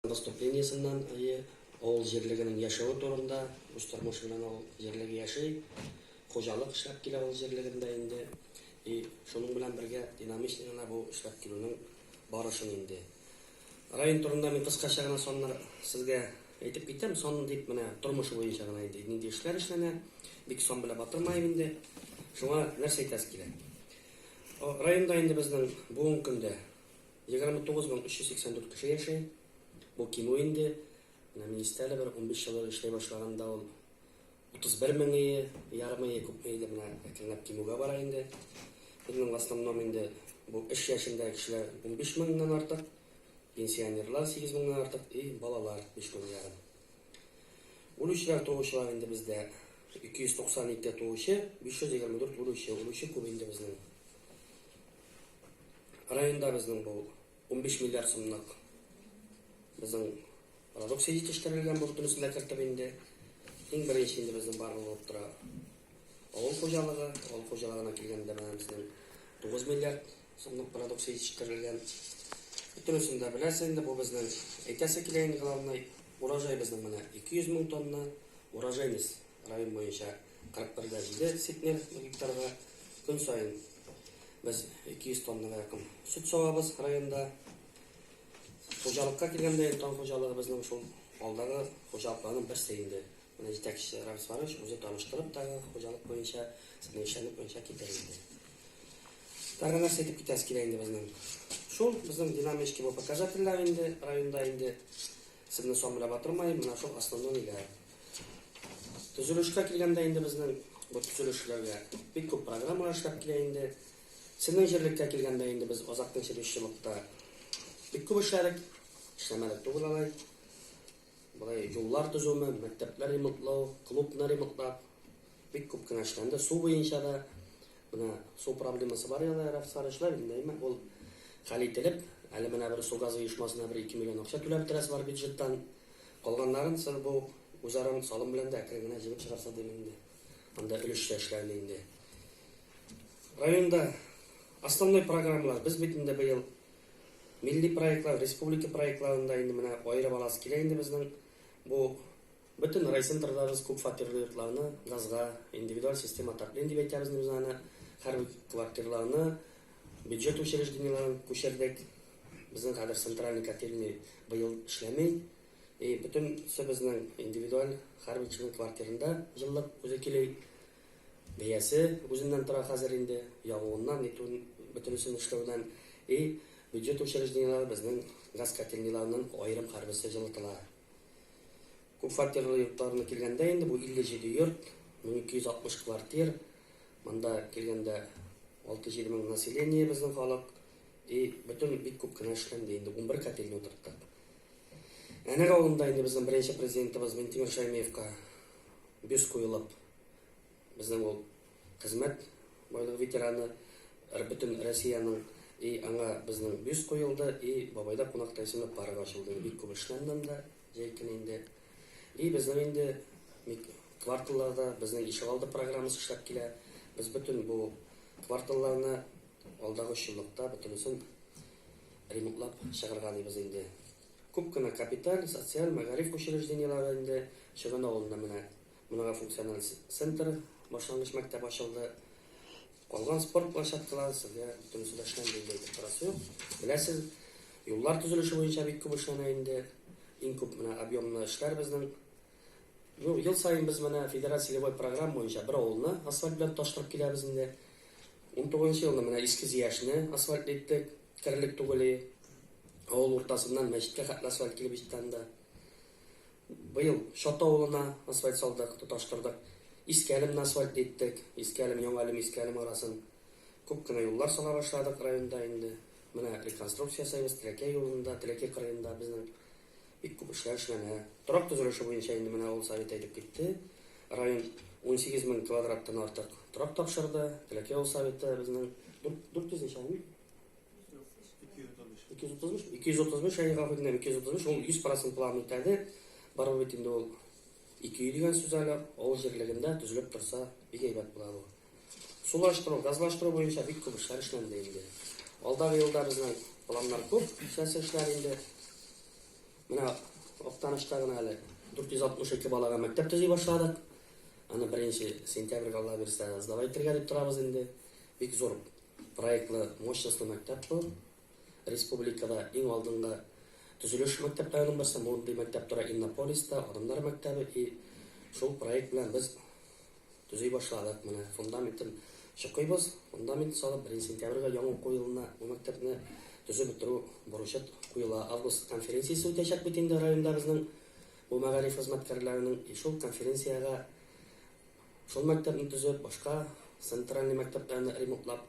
Поступлениесыннан, әйе, авыл җирлегенең яшәве турында, үз тормышы белән авыл җирлеге яши, хуҗалык эшләп килә авыл җирлегендә инде. И шуның белән бергә динамично гына бу эшләп килүнең барышын инде. Район турында мин кыскача гына саннар сезгә әйтеп китәм, сан дип менә тормышы буенча гына инде нинди эшләр эшләнә, бик сан белән батырмаем инде. Шуңа нәрсә әйтәсе килә? Районда инде безнең бүгенге көндә 29 мең 384 кеше яши. Бу кимү инде. Менә министр әле бер унбиш еллык эшләй башлаган да ул. Утызбер меңые, ярымые, күпмее дә менә әкренләп кимүгә бара инде. Безнең в основном инде бу эш яшендәге кешеләр унбиш меңнән артык, пенсионерлар сигез меңнән артык и балалар биш мең ярым. Үлүчеләр, туучылар инде бездә 292 туучы, 524 үлүче. Үлүче күп инде безнең. Районда безнең бу унбиш миллиард сумлык безнең продукция җитештерелгән бу бөтенесен дә кертеп инде. Иң беренче инде безнең барлык булып тора авыл хуҗалыгы. Авыл хуҗалыгына килгәндә менә безнең тугыз миллиард сумлык продукция җитештерелгән. Бөтенесен дә беләсез инде, бу безнең әйтәсе килә инде главный урожай безнең менә ике йөз мең тонна урожайность район буенча. Картбергә җиде центнер гектарга көн саен без 200 тоннага якын сөт савабыз районда. Хуҗалыкка килгәндә, Эльтон хуҗалыгы безнең шул алдагы хуҗалыкларның берсе инде. Менә җитәкчесе Рамис Марович үзе таныштырып тагы хуҗалык буенча, сезнең эшчәнлек буенча китер инде. Тагы нәрсә әйтеп китәсе килә инде безнең. Шул безнең динамический бу показательләр инде районда инде Сезне сон белән батырмаем, менә шул основной ниләр. Төзелешкә килгәндә инде безнең бу төзелеш эшләүгә бик күп программалар эшләп килә инде. Сезнең җирлеккә килгәндә инде без Азакның җитешчелыкта бик күп эшләдек, эшләмәдек түгел алай. Болай юллар төзүме, мәктәпләр ремонтлау, клубны ремонтлап, Бик күп кенә эшләнде. Су буенча да менә су проблемасы бар яна рәфсар эшләр инде әйме ул хәл ителеп, әле менә бер су газы оешмасына бер 2 миллион акча түләп бетерәсе бар бюджеттан. Калганнарын соң бу үзара салым белән дә әкрен генә җыеп чыгарса дим инде. Анда өлешчә эшләрне инде. Районда основной программалар без бит инде быел милли проектлар, республика проектларында инде менә аерып аласы килә инде безнең бу Бөтен райцентрдагыз күп фатирлы йортларны газга, индивидуаль система отопления дип әйтәбез инде без аны, һәрбер квартирларны, бюджет учреждениеләрен күчердек. Безнең хәзер центральный котельный быел эшләми. И бөтен се безнең индивидуаль һәрбер кешенең квартирында җылылык үзе кили. Бәясе үзеннән тора хәзер инде, ягуыннан, нитүен, бөтенесен эшләүдән. И бюджет учреждениеләре безнең газ котельныйларыннан аерым һәрберсе җылытыла. Күп фатирлы йортларына килгәндә инде бу 57 йорт, 1260 квартир. Монда килгәндә 6-7 мең население безнең халык. И бөтен бик күп кенә эшләнде инде, унбер котельня утырттык. Әнәр авылында инде безнең беренче президентыбыз Минтимер Шәймиевка бюст куелып, Безнең ул хезмәт байлыгы ветераны, бөтен Россиянең и аңа безнең бюст куелды, и Бабайда кунакта исемле парк ачылды. Бик күп эшләнде анда, җәй көне инде. И безнең инде кварталларда безнең ишегалды программасы эшләп килә. Без бөтен бу кварталларны алдагы өч еллыкта бөтенесен ремонтлап чыгарган дибез инде. Күп кенә капиталь, социаль, мәгариф учреждениеләре инде Чөгән авылында менә Монара функциональ центр, башлангыч мәктәп ачылды. Калган спорт площадкалары сезгә бөтенесе дә эшләнде инде әйтеп торасы юк. Беләсез, юллар төзелеше буенча бик күп эшләнә инде. Иң күп менә объемлы эшләр безнең. Ну, ел саен без менә федераль целевой программа буенча бер авылны асфальт белән тоташтырып киләбез инде. 19 елны менә Иске Зияшне асфальт иттек, терлек түгели. Авыл уртасыннан мәчеткә хәтле асфальт килеп җитте анда. Быел Чат авылына асфальт салдык, тоташтырдык. Иске Әлемне асфальт иттек. Иске Әлем, Яңа Әлем, Иске Әлем арасын күп кенә юллар сала башладык районда инде. Менә реконструкция ясыйбыз, Теләкәй юлында, Теләкәй кырыенда безнең бик күп эшләр эшләнә. Торак төзелеше буенча инде менә авыл Советы әйтеп китте, район унсигез мең квадраттан артык торак тапшырды. Теләкәй авыл Советы безнең дүрт йөз ничә, Әмир? 235 әйе гафу үтенәм 235 ул 100 процент план үтәде барыбер бит инде ул 200 дигән сүз әле авыл җирлегендә төзелеп торса бик әйбәт була бу сулаштыру газлаштыру буенча бик күп эшләр эшләнде инде алдагы елда безнең планнар күп сәяси эшләр инде менә актанышта гына әле 462 балага мәктәп төзи башладык аны беренче сентябрьгә алла бирсә сдавай итәргә дип торабыз инде бик зур Проектлы, мощностлы мәктәп бу. Республикада иң алдынгы төзелеш мәктәп районның берсе. Мондый мәктәп тора Иннополиста, Адымнар мәктәбе. И шул проект белән без төзи башладык. Менә фундаментын чокыйбыз. Фундаментын салып, беренче сентябрьгә яңа уку елына бу мәктәпне төзеп бетерү бурычы куела. Август конференциясе үтәчәк бит инде районда безнең бу мәгариф хезмәткәрләренең. И шул конференциягә Шул мәктәпне төзеп, башка центральный мәктәпләрне ремонтлап,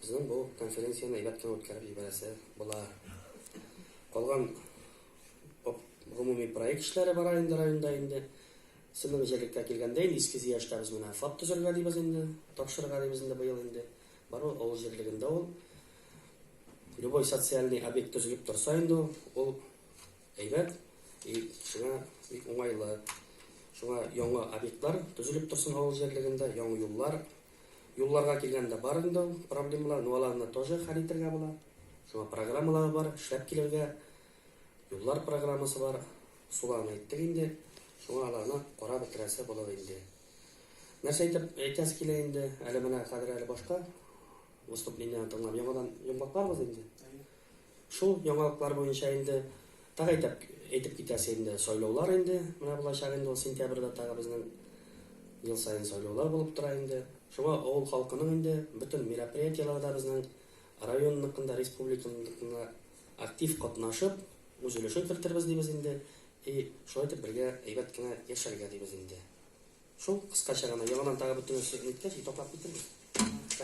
безнең бу конференцияне әйбәт кенә үткәреп җибәрәсе була. Калган гомуми проект эшләре бара инде районда инде. Синең җирлеккә килгәндә инде Иске Зияштә без менә ФАП төзергә дибез инде, тапшырырга дибез инде быел инде. Бар ул авыл җирлегендә ул. Любой социальный объект төзелеп торса инде ул, ул Әйбәт и сиңа бик уңайлы. Шуңа яңа объектлар төзелеп торсын авыл җирлегендә, яңа юллар. Юлларга килгәндә барын да ул проблемалар, ну аларны тоже хәл итергә була. Шуңа программалар бар, эшләп килергә. Юллар программасы бар. Суларны әйттек инде. Шуңа аларны карап бетерәсе булыр инде. Нәрсә әйтеп әйтәсе килә инде, әле менә хәзер әле башка выступлениене тыңлап яңадан йомгакларбыз инде. Шул яңалыклар буенча инде тагы әйтәп әйтеп китәсе инде сайлаулар инде менә булачак инде ул сентябрьдә тагы безнең ел саен сайлаулар булып тора инде шуңа авыл халкының инде бөтен мероприятиеләр дә безнең районныкын да республиканыкын да актив катнашып үз өлешен кертербез дибез инде и шулай итеп бергә әйбәт кенә яшәргә дибез инде шул кыскача гына яңадан тагы бөтен нәрсә әйткәч и туктап китербез.